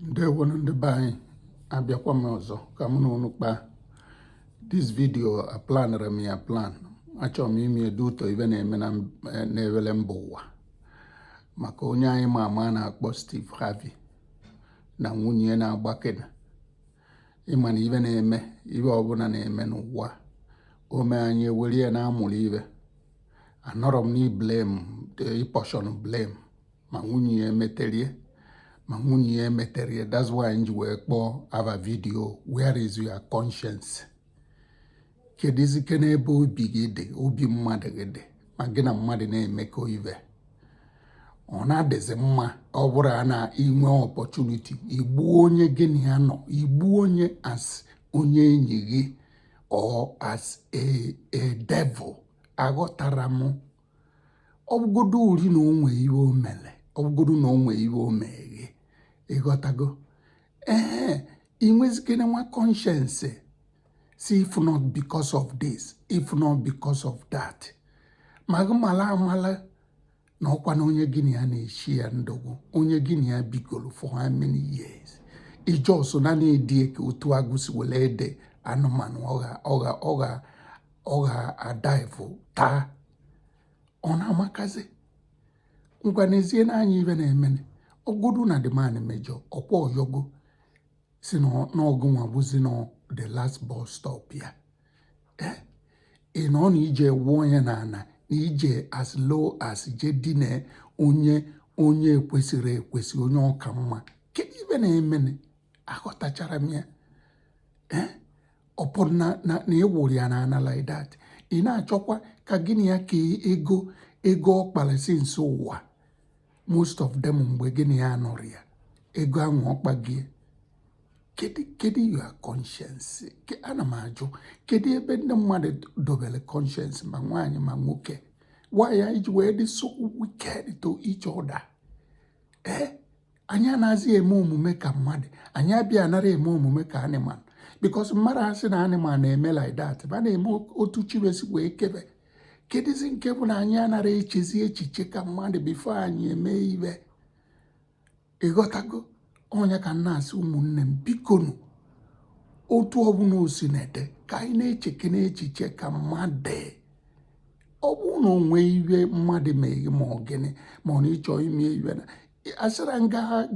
ndewonu ndị be anyị abịakwa m ọzọ ka mụ na unu kpaa this video aplanere m ya aplan achọrọ m ime ya due to ive na-eme na-ewere mba ụwa maka onye anyị ma ama na-akpọ Steve Harvey na nwunye ya na-agbakena ị ma na ive na-eme ive ọbụla na-eme n'ụwa o mee anyị ewere ya na-amụrụ ive anọrọ m n'ịblame ịapportion blame ma nwunye ya metere ma nwunye ya emetere ya that's why m ji wee kpọọ ava video where is your conscience kedụzikene ebe obi gị dị obi mmadụ gị dị ma gị na mmadụ na-emekọ ive ọ na-adịzi mma ọ bụrụ na i nwee opportunity igbu onye gị na ya nọ igbu onye as onye enyi gị or as a a devil aghọtara m ọ bụgodurị na o nwe ihe o mere ọ bụgodu na o nwe ihe o me gị ịghọtago ee i nwezikene nwa conscience sị if not because of this if not because of that ma gị mala amala na ọkwa na onye gị na ya na-eshi ya ndụgwụ onye gị na ya bigoro for how many years i just na na-eri ya ka otu agụ si were eri anụmanụ ọ ga ọ ga adaivu taa ọ na-amakazi ngwa n'ezie na anyị ive na-emene ọ bụgodu na the man mejọ ọkwa ọ yọgo sị na ọ gị nwa bụzi na the last bus stop ya eh? ị nọ na ije wụọ onye n'ana na ije as low as je dine onye onye ekwesịrị ekwesị onye ọ ka mma kedu ive na-emene aghọtachara m ya eh? ọ pụrụ na na ịwụrụ ya n'ana like that ị na-achọkwa ka gị na ya kee ego ego ọ kpara since ụwa most of them mgbe gị na ya anọrọ ya ego ahụ ọ kpagie kedu kedu your conscience Ke- ana m ajụ kedu ebe ndị mmadụ dobere conscience ma nwaanyị ma nwoke why anyị ji wee dị so wicked to each other ee anyị anaghịzi eme omume ka mmadụ anyị abịa anara eme omume ka animal because mmadụ asị na animal na-eme like that va na-eme otu chi ve si wee kee ve kedụzi nke bụ na anyị anara echezi echiche ka mmadụ before anyị emee ive ịghọtago ọ ya ka m na-asị ụmụnne m bikonu otu ọbụla o si na-adị ka anyị na-echekene echiche ka mmadụ ọ bụrụ na o nwe ive mmadụ mee gị ma ọ gịnị ma ọ na ị chọ ime ive na asịrọ m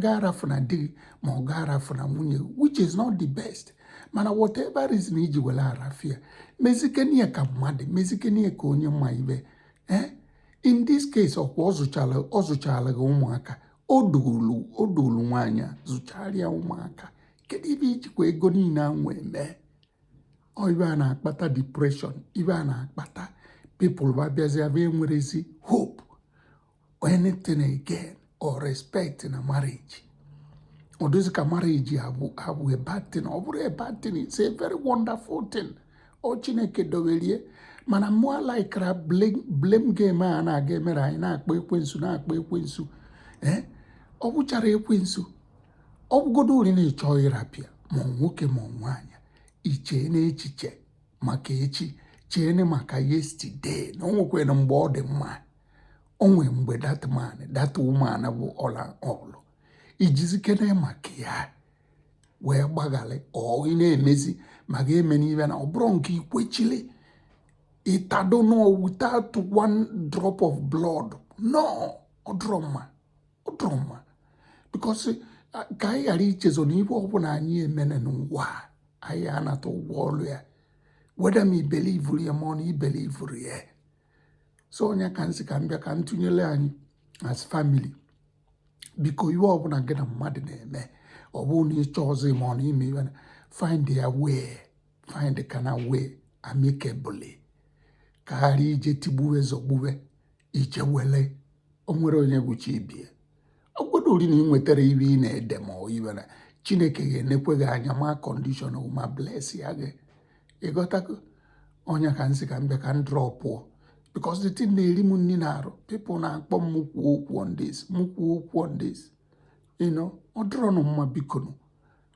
gị arafụna di gị ma ọ gị arafụna nwunye gị which is not the best mana whatever reason i ji were arafụ ya mezikene ya ka mmadụ mezikene ya ka onye ma ive eh? in this case ọkwa ọ zụchara ọ zụchara gị ụmụaka o dulu o dulu nwaanyị a zụchara ya ụmụaka kedu ive i jikwa ego niile a wee mee ive a na-akpata depression ive a na-akpata people ba bịazi abịa enwerọzi hope anything again or respect na marriage ọ dịzị ka marriage abụ abụ a bad thing ọ bụrọ a bad thing it's a very wonderful thing ọ chineke dobeli ya mana mụ alaikịrọ blame game a na-aga emere anyị na-akpọ ekwensu na-akpọ ekwensu ee ọ bụcharọ ekwensu ọ bụgodu rị na ị chọ ịrapụ ya ma nwoke ma nwaanyị i cheene echiche maka echi cheene maka yesterday na o nwekwara mgbe ọ dị mma o nwee mgbe that man that woman bụ ọla olu i jizikene maka ya wee gbagharị ive ị na-emezi ma gị emena ive na ọ bụrọ nke i kwechili ị tado n'ọnụ without one drop of blood no ọ dụrọ mma ọ dụrọ mma because ka anyị ghara ichezọ na ive ọbụla anyị mene n'ụwa anyị ya-anata ụgwọ ọrụ ya whether ma i belivuru ya ma ọ na i belivurọ ya so ọ nya ka m sị ka m bịa ka m tụnyere anyị as family biko ive ọbụla gị na mmadụ na-eme ọ bụrụ na ị chọ ọzọ ma ọ na ime ive na find their way find the kind of way amicably ka a ghara ije tigbuwe zọgbuwe ichewele o nwerọ onye bụ chi ibe ya ọ bụgodu rị na ị nwetara ive ị na-ede ma ọ ive na chineke ga-enekwe gị anya ma condition ma blessịa gị ị ghọtago ọ nya ka m sị ka m bịa ka m drọpụọ because the thing na-eri m nri n'arụ people na-akpọ m kwuo okwu on this m kwuo okwu on this you know ọ dịrọnụ mma bikonu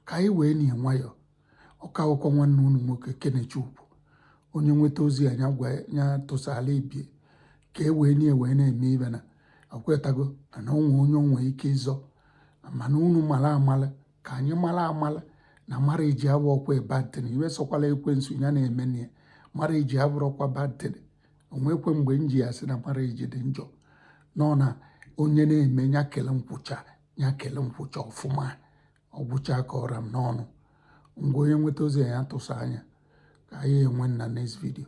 ka anyị wee na nwayọọ ọ ka bụkwa nwanne unu nwoke Kenechukwu onye nweta ozi a ya gwa ya tụsala ibe ya ka e wee nwayọ na-eme ive na ekwetago na o nwe onye o nwe ike ịzọ mana unu mara amala ka anyị mara amala na marriage abụrọkwa bad thing ive sọkwala ekwensu ya na-eme na ya marriage abụrọkwa bad thing o nwekwe mgbe m ji asị na marriage dị njọ no na onye na-eme ya kele nkwụcha ya kele nkwụcha ọfụma ọ gwụcha ka ọ ra m n'ọnụ ngwa onye nweta ozi a nya tụsaa nya ka anyị enwe na next video